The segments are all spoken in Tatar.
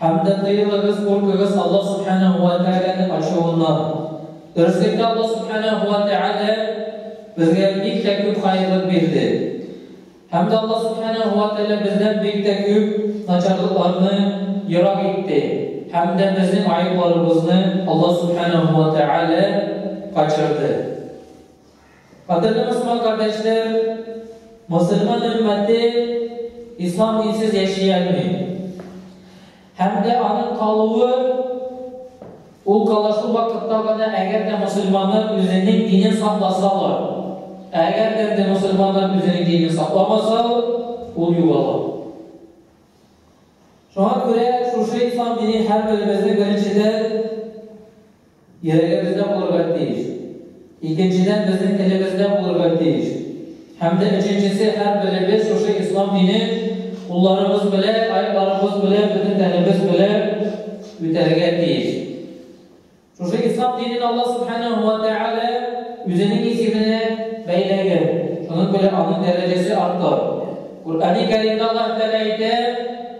Һәм дә тыелыгыз, куркыгыз Аллаһ Сүбхәнәһү вә Тәгаләнең ачуыннан. Дөреслектә, Аллаһ Сүбхәнәһү вә Тәгалә безгә бик тә күп хәерлек бирде. Һәм дә Аллаһ Сүбхәнәһү вә Тәгалә бездән бик тә күп начарлыкларны ерак итте. Һәм дә безнең гаепларыбызны Аллаһ Сүбхәнәһү вә Тәгалә качырды. Кадерле мөселман кардәшләр, мөселман өммәте ислам динсез яши алмый. Һәм дә аның калуы ул кала шул вакытта гына, әгәр дә мөселманнар үзенең динен сакласалар. Ә әгәр дә инде мөселманнар үзенең динен сакламаса, ул югала. Шуңа күрә шушы ислам динен һәрберебезнең беренчедән Йөрәгебездә булырга тиеш. Икенчедән, безнең телебездә булырга тиеш. Һәм дә өченчесе, һәрберебез шушы Ислам дине кулларыбыз белән, аякларыбыз белән, бөтен тәнебез белән үтәргә тиеш. Шушы Ислам динен Аллаһ Субханәһу ва Тәгалә үзенең исеменә бәйләгән. Шуның белән аның дәрәҗәсе арта. Куръәни Кәримдә Аллаһ Тәгалә әйтә,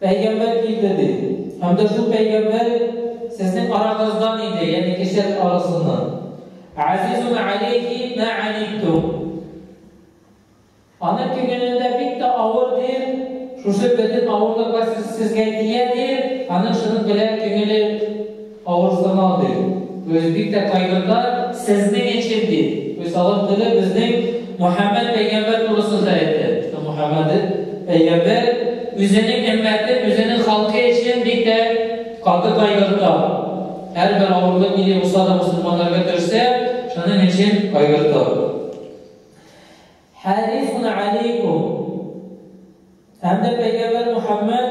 Пәйгамбәр килде, ди. Һәм дә шул пәйгамбәр сезнең арагыздан иде, ягъни кешеләр арасыннан. Азизун алейхи мә анитум. Аның күңелендә бик тә авыр, ди. Шушы бөтен авырлыклар сезгә тия, ди. Аның шуның белән күңеле Авырсынау, ди. Үзе бик тә кайгырта, Сезнең өчен, ди. Уйсалым теле безнең Мөхәммәд пәйгамбәр турысында әйтте. Мөхәммәд пәйгамбәр үзенең өммәте, үзенең халкы өчен бик тә каты кайгырта. Һәрбер авырлык нинди булса да мөселманнарга төшсә, шуның өчен кайгырта. Хәрисун алейкум! Һәм дә пәйгамбәр Мөхәммәд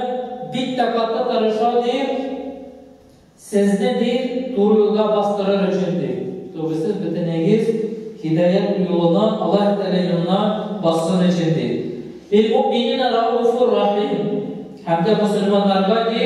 бик тә каты тырыша, ди, сезне, ди, туры юлга бастырыр өчен, ди. Түгел, сез бөтенегез һидаят юлына Аллаһ Тәгалә юлына бассын өчен, ди. Бил-муъминина рауфур рахим. Һәм дә мөселманнарга, ди,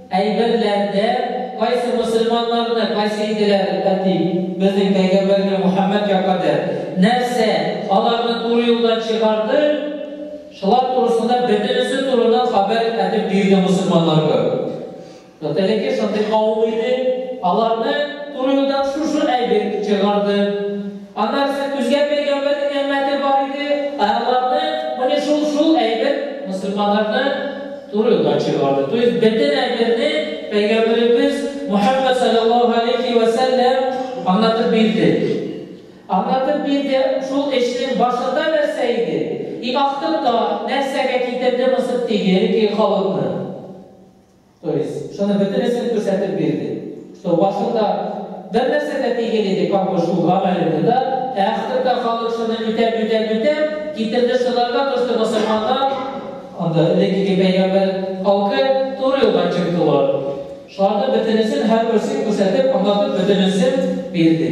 Әйберләрдә кайсы мөселманнарны кайсы иделәр, әти, безнең пәйгамбәрне Мөхәммәд якады, нәрсә, аларны туры юлдан чыгарды, шулар турысында бөтенесе турында хәбәр әтеп бирде мөселманнар гөр. Вот элеке шундый кавым иде, аларны туры юлдан шушы әйбер чыгарды. Аннарысы күзгә пәйгамбәрнең әммәте бар иде, ә аларны, менә шул, шул әйбер мөселманнарны Туры юлдан чыгарды. То есть бөтен әмерне Пәйгамбәребез Мөхәммәд салләллаһу галәйһи вә сәлләм аңлатып бирде. Аңлатып бирде, шул эшнең башында нәрсә иде? И ахтында нәрсәгә китерде Мысыр тигере ки халыкны? То есть шуны бөтенесен күрсәтеп бирде. Су башында бер нәрсә дә тигел иде, капы шул гамәлеңне дә, ә ахырда халык шуны үтәп, үтәп, үтәп, китерде шуларга кушты мосылманнар, анда элеккеге пәйгамбәр халкы туры юлдан чыктылар. Шуларның бөтенесен, һәрберсен күрсәтеп, аңлатып, бөтенесен бирде.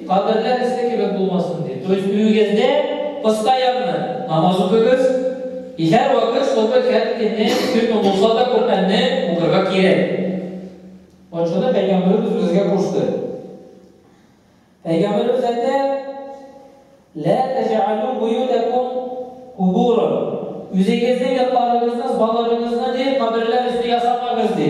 Каберләр эссе кебек булмасын дип. То есть өегездә кыска ягъны намаз укыгыз, и һәр вакыт чтобы һәр көнне көнме булса да Коръәнне укырга кирәк. Вот шуны Пәйгамбәребез безгә кушты. Пәйгамбәребез әйтә, Лә тәҗәалу буютәкум кубура. Үзегезнең ятларыгызны, баларыгызны ди, каберләр өсте ясамагыз ди.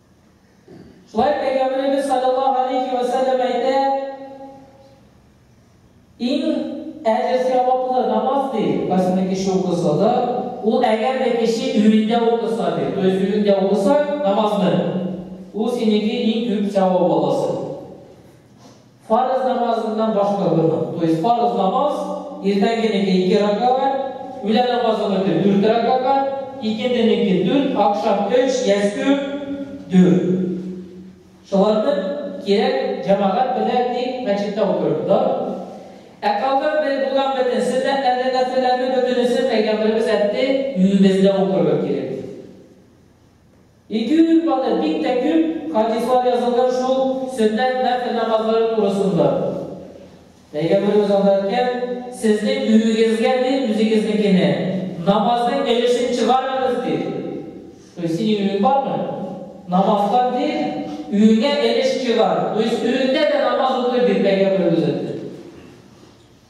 Шулай Пәйгамбәребез саллаллаһу алейхи вә сәлләм әйтә, иң әҗер саваплы намаз ди, кайсыны кеше укыса да, ул әгәр дә кеше өендә укыса ди, то есть өендә укыса намазны, ул синеке иң күп савап аласы. Фарыз намазыннан баш тартырмын. То есть фарыз намаз, иртәнгенеке ике ракагать, үлән намазыныкы дүрт ракагать, икенденеке дүрт, акшам өч, ястү дүрт. Шуларны кирәк җәмагать белә тик мәчеттә укырбыз, да? Ә калган бер булган бөтен сөннәтләрне, нәфелләрне бөтенесен пәйгамбәребез әйтте, үзебездә укырга кирәк. Ике ир бала бик тә күп хадислар язылган шул сөннәт нәфл намазлары турысында. Пәйгамберебез анда әйткән, Сезнең өегезгә дә үзегезнекенә намазның өлешен чыгарыгыз, ди. То есть синең өең бармы? Намаздан, ди, өеңә өлеш чыгар. То есть өеңдә дә намаз укы, ди Пәйгамберебез әйтте.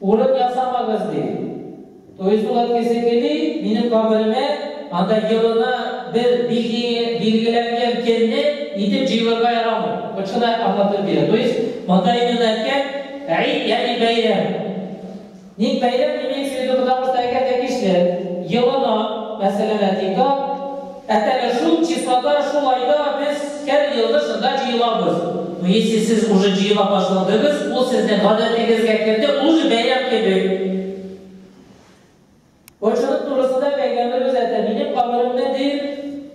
Урын ясамагыз, ди. Туйсу әткәсе кели, минем каберемә, анда елына бер билгеләнгән кенне итеп җыелырга ярамый. Очына аңлатып бирә. То есть, монда именно әткәм, Гид, ягъни бәйрәм. Ник бәйрәм, имеется в виду, потому что әкәм тәкичле. Елына, мәсәлән, әти, тап. Ә теге шул числода, шул айда без һәр елны шунда җыелабыз. Ну, если сез уже җыела башладыгыз, ул сезнең гадәтегезгә керде, ул уже бәйрәм кебек. Борчылып турысында пәйгамберебез әйтә, минем каберемне, ди,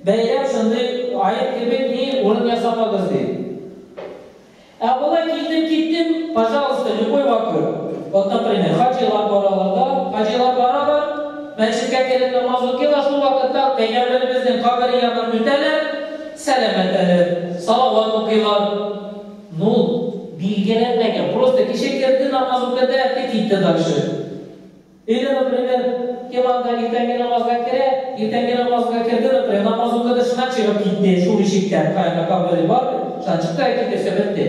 бәйрәм шундый аек кебек, ди, урын ясамагыз, ди. Ә болай килдем киттем, пожалуйста, любой вакыт. Вот например, хаҗилар баралар да, хаҗилар баралар, мәчеткә кереп намаз укыйлар, шул вакытта пәйгамбәребезнең кабере яныннан үтәләр, сәлам әйтәләр, салават укыйлар. Ну, билгеләнмәгән, просто кеше керде, намаз укыды, әйтте, китте дальше. Өйдә, например, кем анда иртәнге намазга керә, иртәнге намазга керде, например, намаз укыды, шуннан чыгып китте, шул ишектән, каенга кабере бар бит, шуннан чыкты да китерсә, бетте.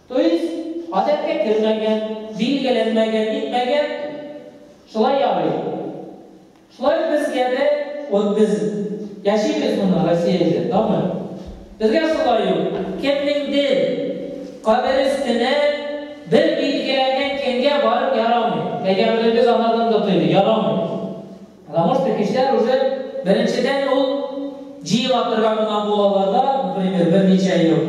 То есть, гадәткә кермәгән, билгеләнмәгән, нитмәгән, шулай ярый. Шулай ук безгә дә, вот без яшибез моны Россиядә, тагын безгә шулай ук кемнеңдер кабере өстенә бер билгеләнгән көнгә барып ярамый. Пәйгамберебез анардан да тыйды, ярамый. Потому что кешеләр уже беренчедән ул җыела торган гына булалар да, например, берничә ел.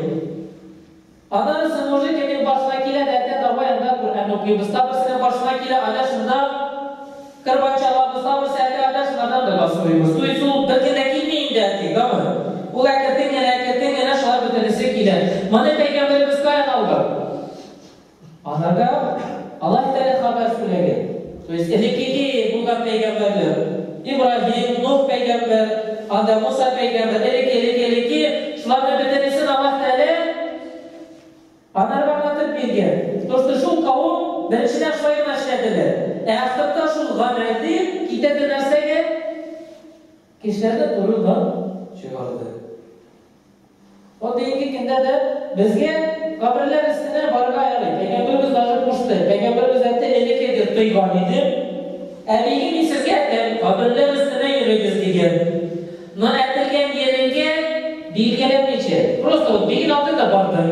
Аннары Сынужи кемнең каршына килә, Дәрдә таба янында Коръән укыйбыз. Тагы берсенең каршына килә, анда шунда кырбан чабабыз. Тагы берсе әкер анда шулардан да бас сорыйбыз. Туй сул бер көндә килми инде, әти, гомер. Ул әкертең генә, әкертең генә, шулар бөтенесе килә. Моны пәйгамбәребез каян алган? Ахырда Аллаһ Тәгалә хәбәр сүләгән, то есть элеккеге булган пәйгамбәрләр, Ибраһим, Нух пәйгамбәр, анда Муса пәйгамбәр, элекке, элекке, элекке, шуларны бөтенесен Аллаһ Тәгалә анарга аңлатып биргән, то что шул кавым беренчедән шулай гына эшләделәр, ә ахырда шул гамәл дип китәде нәрсәгә? Кешеләрне туры да чыгарды. Вот бүгенге көндә дә безгә каберләр өстенә барырга ярый. Пәйгамбәребез даже кушты. Пәйгамбәребез әйтте, элек әйтте, тыйган иде. Ә бигем мин сезгә әйтәм, каберләр өстенә йөрегез дигән. Но әйтелгән җиреңгә билгеләмичә, просто вот бигем алдында барды.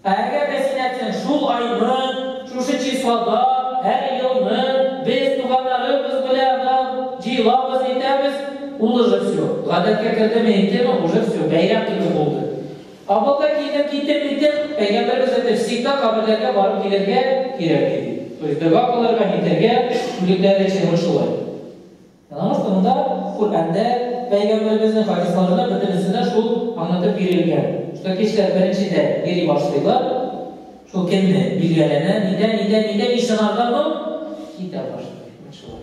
Ә әгәр дә син әтиң шул айны, шушы числода, һәр елны, без, туганнарыбыз белән нан җыелабыз, әйтәбез, ул уже всё, гадәткә кердеме әйтеме, уже всё, бәйрәм кебек булды. Авылга килдем, киттем, киттем, пәйгамбәребез әйтте, всегда каберләргә барып килергә кирәк, диде. То есть дога кылырга, нитәргә, үлекләр өчен, вот шулай. Намаз турында Коръәндә, пәйгамбәребезнең хадисларында бөтенесендә шул аңлатып бирелгән, что кешеләр беренчедә йөри башлыйлар, шул көнне билгеләнә, нидә, нидә, нидә ни сынарга моң китә башлый, менә шулай.